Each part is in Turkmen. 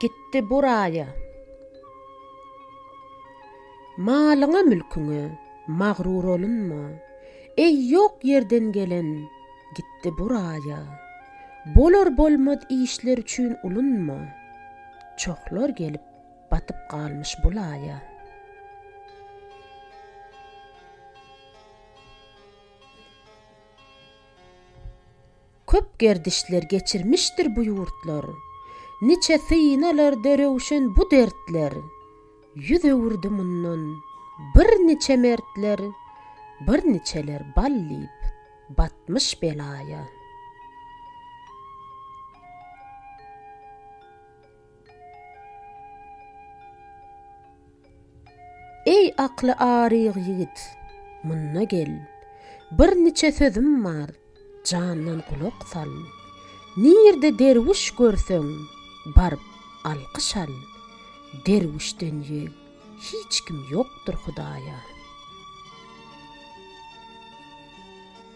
Gitdi bu raýa. Malyňa-mülküňe magruur olunma, Eý, ýok ýerden gelen, gitdi bu raýa. Bolar-bolmaz işler üçin ulunma, Çohlar gelip, batyp galmyş bu laýa. Köp gerdişler geçirmişdir bu ýurtlar, Niçe synalarda röwşen bu dertler. Ýüz öwürdi mundan birniçe mertler, Birniçeler bal diýip, batmyş belaýa. Eý akly aryg ýigit, munda gel, Bir niçe sözüm bar, jandan gulak sal. Nirde derwüş görseň, baryp alkyş al, Derwüşden ýeg hiç kim ýokdur Hudaýa.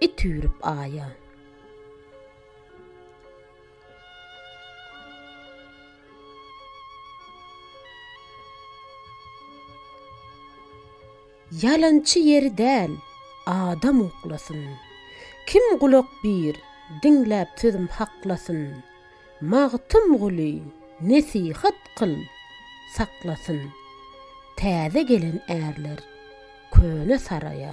It üýrüp aýa. Ýalançy ýeri däl, adam uklasyn. Kim gulak bir, diňläp sözüm haklasyn. Magtymguly, nesihat kyl, saklasyn. Täze gelen ärler. Köne saraýa.